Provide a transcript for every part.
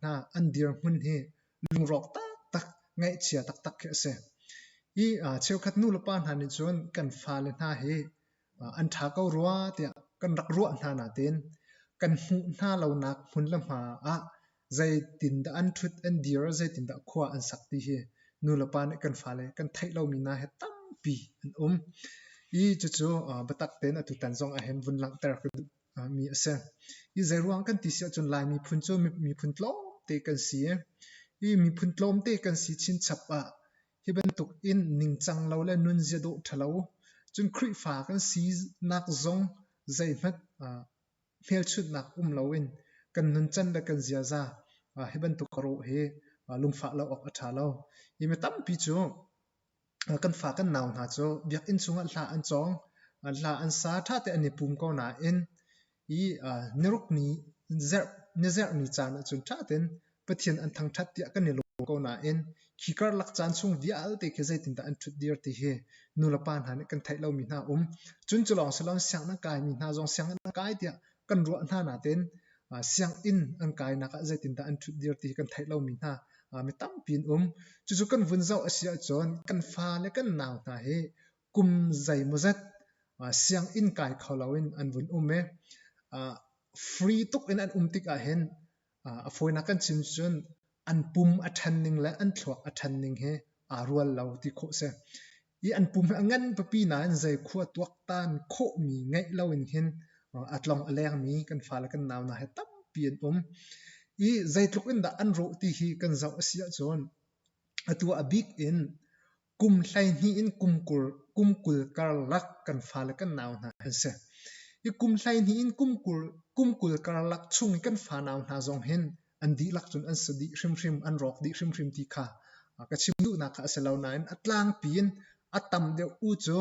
hna an dirhmun hi lungrawk taktak ngaihchia taktak khi a si. Hi cheukhat nu le pa hna nih cun kan fale hna hi an ṭha ko rua tiah kan rak ruah hna nain kan hmuh hna lonak hmun le hma ah zeitindah an ṭhut, an dir, zeitindah khua an sak ti hi nu le pa nih kan fale kan theih lomi hna he tampi an um. Hi cucu biatak tein atutan zong ahhin vun langhter ka duh. mi a si. Hi zeiruang kan ti si ahcun Lai miphun cu miphun tlawmte kan si i miphun tlawmte kan si chinchap ah hi bantuk in ningcang lo le nunzia dawh ṭhalo cun Khrihfa kan sinak zong zeihmanh hmelchunhnak um loin kan nuncan le kan ziaza hi bantuk rawh hi lungfah lo awk a ṭha lo. Hi mi tampi cu kan fa kan nau hna cu biakinn chungah hla an cawng. Hla an sa ṭhate an i pum ko nain i niruk ni zarh nizarh ni caan ahcun ṭhatein Pathian an thangṭhat tiah kan i lawm ko nain khi karlak caan chung vialte khi zeitindah an ṭhut dir ti hi nu le pa hna nih kan theih lomi hna a um. Cun cu lawng si loin sianginn an kai mi hna zong sianginn an kai tiah kan ruah hna nain sianginn an kainak ah zeitindah an ṭhutdir ti hi kan theih lomi hna mi tampi an um. Cucu kan vun zoh a si ahcun kan fa le kan nau hna hi kum zeimawzat sianginn kai kho loin an vun um i free tuk in an um tik ahhin A fawinak kan chim cun an pum a ṭhan ning le an thluak a ṭhan ning hi aa rual lo ti khawh a si. I an pum hi a ngan pipi nain zeikhua tuaktan khawhmi ngeih loin hin a tlong a lengmi kan fale kan nau hna he tampi an um. I zeitluk in dah an rawh ti hi kan zoh a si ahcun atu a bik in Kum hleihnih in kum kul karlak kan fale kan nau hna an si. I kum hleihnih in kum kul karlak chung i kan fa nau hna zong hin an dihlak cun an si dih hrimhrim, an rawk dih hrimhrim ti kha ka chim duhnak kha a si lo nain a tlangpi in a tam deuh u cu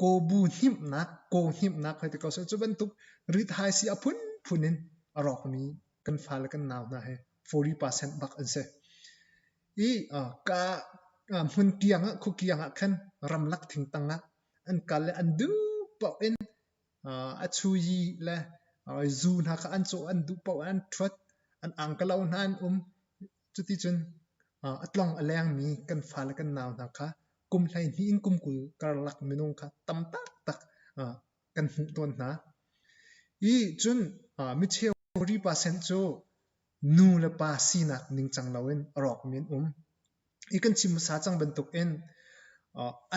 kawbu hnemhnak, kaw hnemhnak hoi ti ko seh. Cu bantuk rithaisi a phunphun in a rawkmi kan fale kan nau hna hi forty percent bak an si. I uh, ka uh, hmun tiang ah, khukiang ah khan ramlak thingtang ah an kal le an duhpoh in uh, a chuyi le uh, zu hna kha an caw an duhpoh an thuat an angkalo hna an um Cuticun a tlong a lengmi kan fale kan nau hna kha kum hleihnih in kum kul karlak minung kha tam taktak kan hmuh tawn hna. Hi cun micheu percent cu nu le pa sinak ningcang loin a rawkmi an um. Hi kan chim hmasa cang bantukin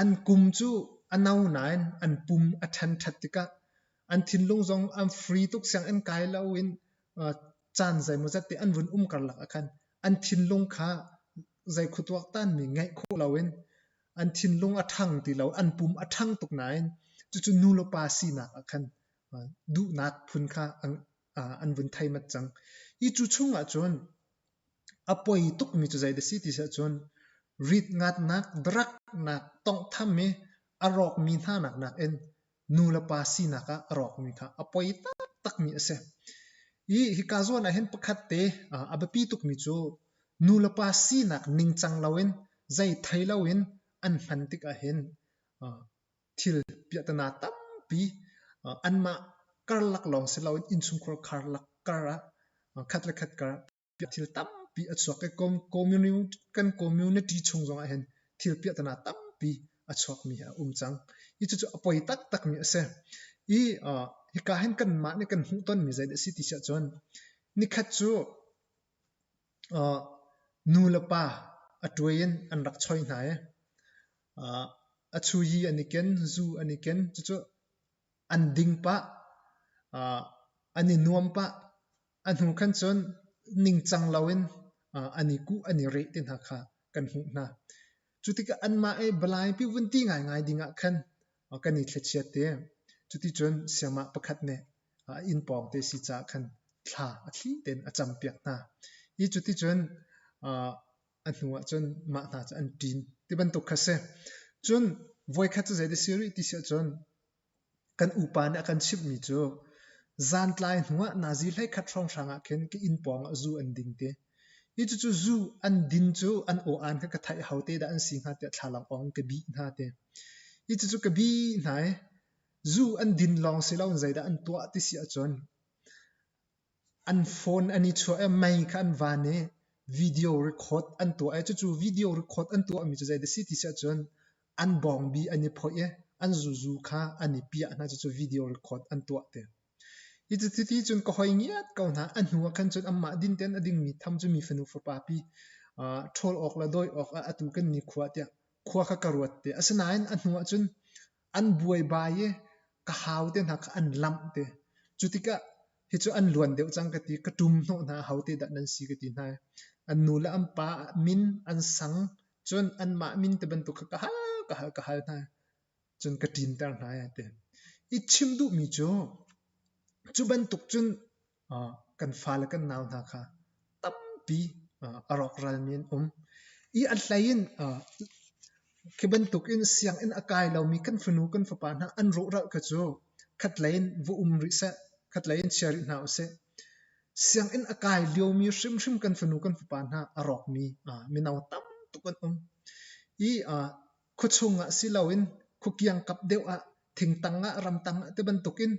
an kum cu a no nain an pum a ṭhenṭhet tikah an thinlung zong an free tuk sianginn kai loin caan zeimawzat te an vun um karlak ah khan an thinlung kha zei khuatuak tanmi ngeih khawh loin an thinlung a ṭhang ti lo an pum a ṭhang tuk nain cucu nu le pa sinak ah khan duhnak phun kha an vun theimat cang hi cu chungah cun a poi tukmi cu zei si ti seh cun rit ngatnak daraknak tonghtham i a rawkmi hnanak nakin nulepa sinak ah a rawkmi kha a poi taktakmi a si. I hika zawn ah hin pakhat te a biapi tukmi cu nulepa sinak ningcang loin zei thei loin an hman tik ahhin thil piahtana tampi anmah karlak lawng si loin innchungkhar karlak kar ah khat le khat kar Ka thil tampi a chuak i kan community chung zongah hin thil piahtana tampi a chuakmi a um cang. Hi cucu a poi taktakmi a si. I hika hin kanmah nih kan hmuhtonmi zeidah a si ti siah cun nikhat cu nu le pa a tuai in an rak choi hna i a chuyi an i ken, zu an i ken. Cucu an ding pah, an i nuam pah. A hnu khan cun ningcang loin an i kuh an i reh ti hna kha kan hmuh hna. Cu tikah anmah i balaipi vunti ngaingai dingah khan kan i thlichiat i cuticun siangmah pakhat nih inn pawng te si caah khan thla a thli tein a campiak hna i cuticun a hnuah cun mah hna cu an ṭin ti bantuk kha a si. Cun voikhat cu zei a si rih ti si ahcun Kan upa nih a kan chimhmi cu zantlai hnuah nazi hleikhat hrawnghrang ah khin ka inn pawng ah zu an ding ti. Hi cucu zu an din cu an aw-aan kha ka theih a ho te dah an si hnga tiah thlalang awng in ka bih hna ti. Hi cucu ka bih hna i zu an din lawng si loin zeidah an tuah ti si ahcun An phone an i chuah i mei kha an van i video record an tuah i cucu video record an tuahmi cu zeidah a si ti si ahcun an bawngbi an i phoih i an zuzu kha an i piah hna cucu video record an tuah te. Hi cu chiti cun ka hoi ngiat ko hna. A hnu ah khan cun anmah din tein a dingmi tham cu mi fanu fapa pi ṭhawl awk le dawi awk ah atu kan nikhua tiah khua kha ka ruat te. Asinain a hnu ah cun an buaibai i ka hau te hna kha an lamh te. Cu tikah hi cu an luan deuh cang ka ti. Ka ṭum hnawh hna hau te dah nan si ka ti hna i an nu le an pa min an sang cun anmah min ti bantuk kha ka hal ka hal ka hal hna i cun ka ṭinter hna a ti. I chim duhmi cu cu bantuk cun kan fale kan nau hna kha tampi a rawkralmi an um i a hlei in khi bantuk in sianginn a kai lomi kan fanu kan fapa hna an rawhral kha cu khatlei in va um rih seh khatlei in chia rih hna usih sianginn a kai liomi hrimhrim kan fanu kan fapa hna a rawkmi mino tam tuk an um i Khuachung ah si loin khukiangkap deuh ah thingtang ah ramtang ah tibantukin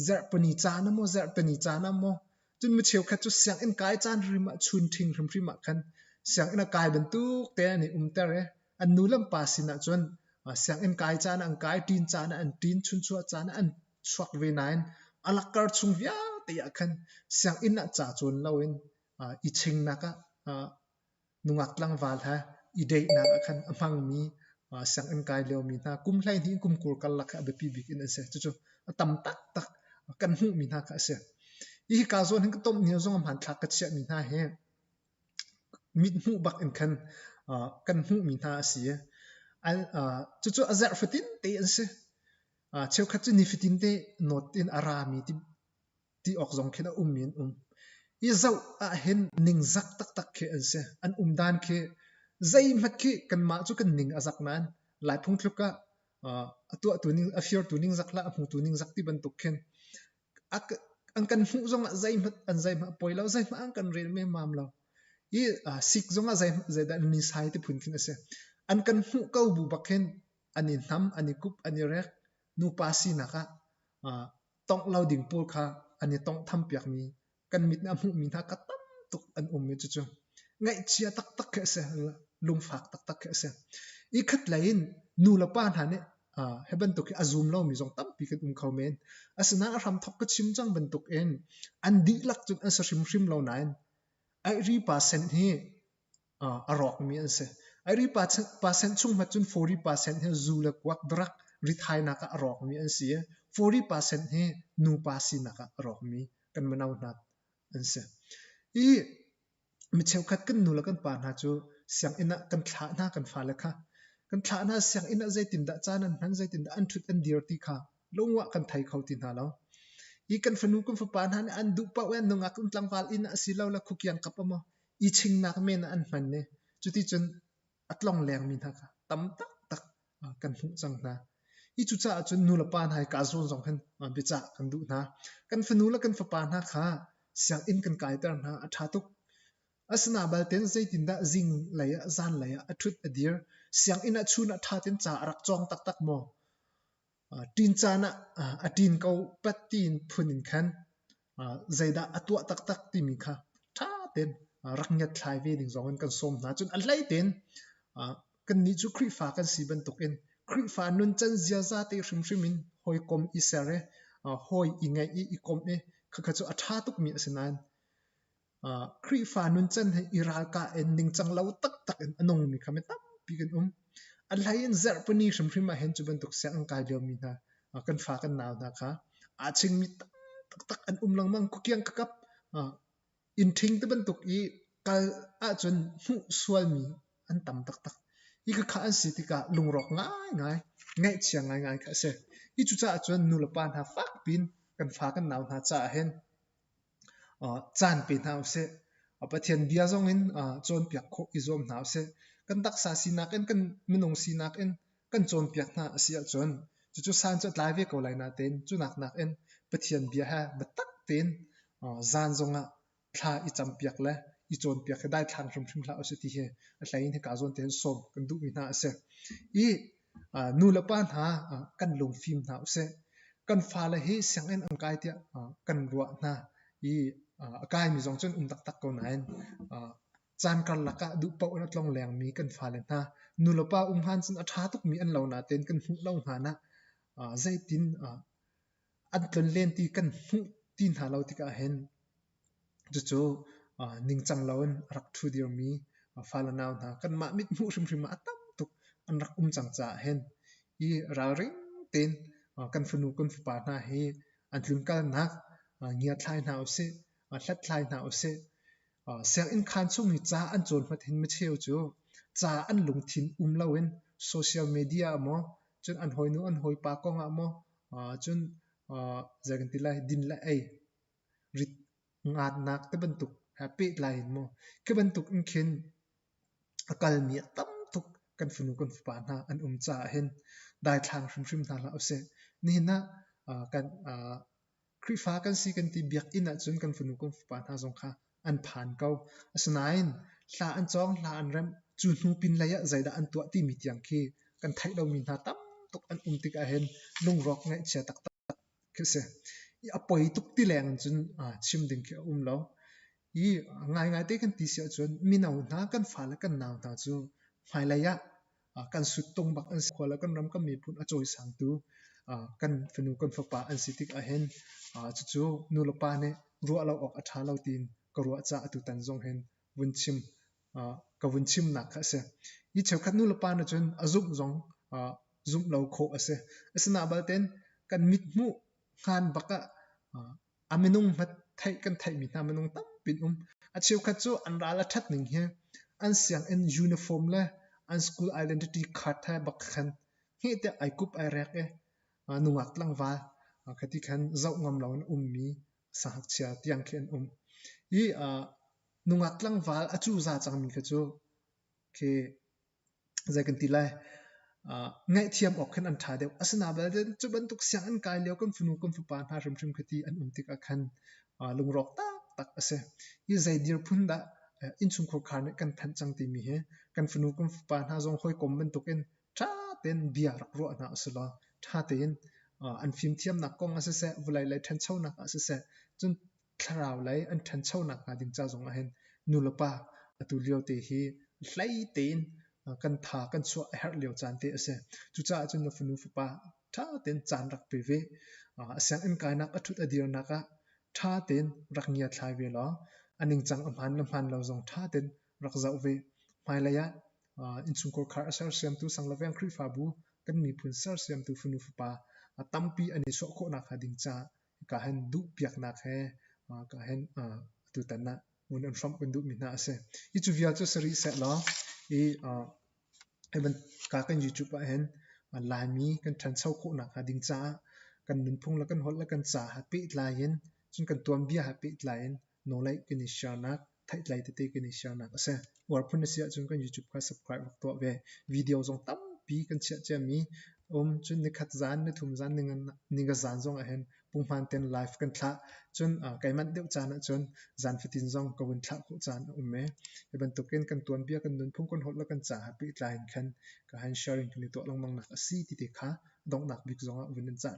zarh puni caan ah maw zarh peni caan ah maw cun mi cheukhat cu sianginn kai caan hrim ah chun ṭhing hrimhrim ah khan sianginn a kai bantuk te an i umter i an nu le an pa sin ah cun sianginn kai caan ah an kai ṭin caan ah an ṭin chunchuah caan ah an chuak ve nain a lakkar chung vialte ah khan sianginn ah ca cawn loin i chingnak ah Nungak tlangval he i deihnak ah khan a hmangmi sianginn kai liomi hna kum hleihnih kumkur karlak kha a biapi bik in an si. Cucu a tam taktak kan hmuhmi hna kha a si. Hihi kaa zuan hin ka tomh ni zong hmanthlak ka chiahmi hna hi mithmuh bak in khan kan hmuhmi hna a si i cucu a zarh fatin te an si. Cheukhat cu nifatin te nawt in a rami ti awk zong khin a ummi an um. I zoh ahhin ningzak taktak khi an si. An um dan khi zeihmanh khi kanmah cu kan ning a zak nain lai phungthluk ah a tuahtu ning a firtu ningzak lah a hmutu ningzak ti bantuk khin an kan hmuh zong ah zeihmanh an zeihmanh a poi lo zeihmanh an kan rel memmam lo i sik zong ah zeidah an ni sai ti phun khin a si an kan hmuh ko bu bak hin an i nam an i kup an i rek nupa sinak ah tongh lo ding pawl kha an i tonghtham piakmi kan mit nih a hmuhmi hna kha tam tuk an um i cucu ngaihchia taktak khi a si lungfak taktak khi a si i khat lei in nu le pa hna nih hi bantuk hi a zum lomi zong tampi kan um kho men asinain a hramthok ka chim cang bantuk in an dihlak cun an sa hrimhrim lo nain aihri pa sen hi a rawkmi an si. Iri percent chung hmat cun forty percent hi zu le kuak darak rithainak ah a rawkmi an si i forty percent hi nupa sinak ah a rawkmi kan mino hna an si. I mi cheukhat kan nu le kan pa hna cu sianginn ah kan thlah hna kan fale kha. Kan thlah hna sianginn ah zeitindah caan an hman zeitindah an ṭhut an dir ti kha lungwah kan thei kho ti hna lo. I kan fanu kan fapa hna nih an duh paoh i an nungak in tlangval inn ah a si lo la khukiang kap a maw i chingnak men ah an hman i cuticun a tlonglengmi hna kha tam taktak kan hmuh cang hna. Hi cucaah cun nulepa hna i kaa zawn zong khan biacah kan duh hna. Kan fanu le kan fapa hna kha sianginn kan kaiter hna a ṭha tuk. Asina balte zeitindah zing lei ah zan lei ah a ṭhut a dir? Sianginn ah chun ah ṭha tein ca a rak cawng taktak maw? Ṭin caan ah a ṭin ko pat tiin phun in khan zeidah a tuah taktak timi kha ṭha tein rak ngiatthlai ve ding zongin kan sawm hna. Cun a hlei tein kannih cu Khrihfa kan si bantukin Khrihfa nuncan ziaza te hrimhrim in hawikom i ser i hawi i ngaih i i komh i khakha cu a ṭha tukmi a si nain Khrihfa nuncan he i ralkah in ningcang lo taktak in a nungmi kha mi tampi kan um. An hlei in Zarhpini hrimhrim ahhin cu bantuk siang an kai liomi hna, kan fa kan nau hna kha aa chingmi taktak an um lengmang. Kukiang kakap inn ṭhing ti bantuk i kal ahcun hmuh sualmi an tam taktak. Hi khakha an si tikah lungrawk ngaingai, ngaihchia ngaingai kha a si. Hi cucaah cun nulepa hna fakpiin kan fa kan nau hna caah hin caan pe hna u sih. Pathian bia zongin cawnpiak khawh i zuam hna u sih. Kan taksa sinak in, kan minung sinak in kan cawnpiak hna a si ahcun cucu san cu a tlai ve ko lai natein cunak nakin Pathian bia he biatak tein zan zongah thla i campiak le i cawnpiak hi daithlang hrimhrim hlah u sih ti hi a hlei in hika zawn tein sawm kan duhmi hna a si. I Nulepa hna kan lungfim hna usih. Kan fale hi sianginn an kai tiah kan ruah hna i a kaimi zong cun um taktak ko nain caan karlak ah duh paoh in a tlong lengmi kan fale hna nulepa um han cun a ṭha tukmi an lo natein kan hmuh lo hnan ah zeitin an tlun len ti kan hmuh ti hna lo tikah hin cucu ningcang loin a rak ṭhu dirmi fale nau hna kanmah mithmuh hrimhrim ah a tam tuk an rak um cang caah hin hi ralring tein kan fanu kan fapa hna hi an tlunkalnak ngiathlai hna usih hlathlai hna usih sianginn khaan chung i ca an cawnhmat hin micheu cu ca an lungthin um loin social media ah maw cun an hawinu an hawipa kong ah maw Cun zei kan ti lai din le ei, rit ngaatnak te bantuk he pehtlai in maw khi bantuk in khin a kalmi a tam tuk kan fanu kan fapa hna an um caah hin daithlang hrimhrim hna hlah usih. Nihin ah kan Khrihfa kan si kan ti biakinn ahcun kan fanu kan fapa hna zong kha an phan ko. Asinain hla an cawng, hla an remh. Cu hnu pinlei ah zeidah an tuah timi tiang khi kan theih lomi hna tam tuk an um tik ahhin lungrawk ngaihchia taktak khi a si. I a poi tuk ti leng in cun chim ding khi a um lo. I ngaingaite kan ti si ahcun mino hna, kan fale, kan nau hna cu hmailei ah kan suttung bak an si. Khua le kan ram kan miphun a cawisangtu kan fanu kan fapa an si tik ahhin cucu nu le pa nih ruah lo awk a ṭha lo tiin ka ruah caah atutan zong hin vun chim ka vun chimnak kha a si. Hi cheukhat nu le pa nih cun a zumh zong zumh lo khawh a si. Asinain balte kan mithmuh ngan bak ah A minung theih kan theihmi hna minung tampi an um. A cheukhat cu an ral a ṭhat ning hi an sianginn uniform le an school identity card he bak khan heh tiah ai kup ai rek i nungak tlangval khati khan zoh ngam loin ummi sangakchia tiang khi an um. Hi nungak tlangval a cu za cangmi khi cu khi Zei kan ti lai? Uh, ngaihthiam awk khin an ṭha deuh. Asina belte, cu bantuk sianginn kai lio kan fanu kan fapa hna hrimhrim khiti an um tikah khan uh, lungrawk taktak a si. Hi zei dirphun dah uh, innchungkhur khar nih kan thanh cang timi hi kan fanu kan fapa hna zong hawikom bantukin ṭha tein bia rak ruah hna u sih law ṭha tein uh, an fimthiamnak kong ah siseh, vulei lei ṭhanchonak ah siseh, cun thlarau lei an ṭhancho nakhnga ding ca zongah hin nulepa atu liote hi hlei tein kan tha kan chuah a herh lio caan te a si. Cucaah cun na fanu fapa ṭha tein caan rak pe ve. A sianginn kainak a ṭhut a dirnak ah ṭha tein rak ngiatthlai ve law a ningcang a hmaan le hmaan lo zong ṭha tein rak zoh ve. Hmailei ah innchungkhar khar a sersiamtu sang le veng Khrihfabu kan miphun sersiamtu fanu fapa tampi an i suah khawh nakhnga ding ca ka hen duhpiaknak he ka hen tutan ah ngun an hrawmh kan duhmi hna a si. Hi cu vial cu si rih sehlaw i ka kan YouTube ah hin Laimi kan ṭhancho khawhnak hnga ding caah kan nunphung le kan holh le kan ca ha pehtlai in cun kan tuanbia ha pehtlai in nawlei kan i shiarnak Thaitlai tete kan i siarnak a si. Uar phun na si ahcun kan YouTube kha subscribe rak tuah ve. Video zong tampi kan chiah ciami a um. Cun nikhat zaan, nithum zaan, ninga zaan zong ahhin punghman ten live kan thlah. Cun kai manh deuh caan ahcun zaan fatin zong ka vun thlah khawh caan a um e. Hi bantukin kan tuanbia, kan nunphung, kan holh le kan ca ha pehtlai in khan ka han sharing kan i tuah lengmang nak a si ti te kha donghnak bik zongah vun in cah tthan.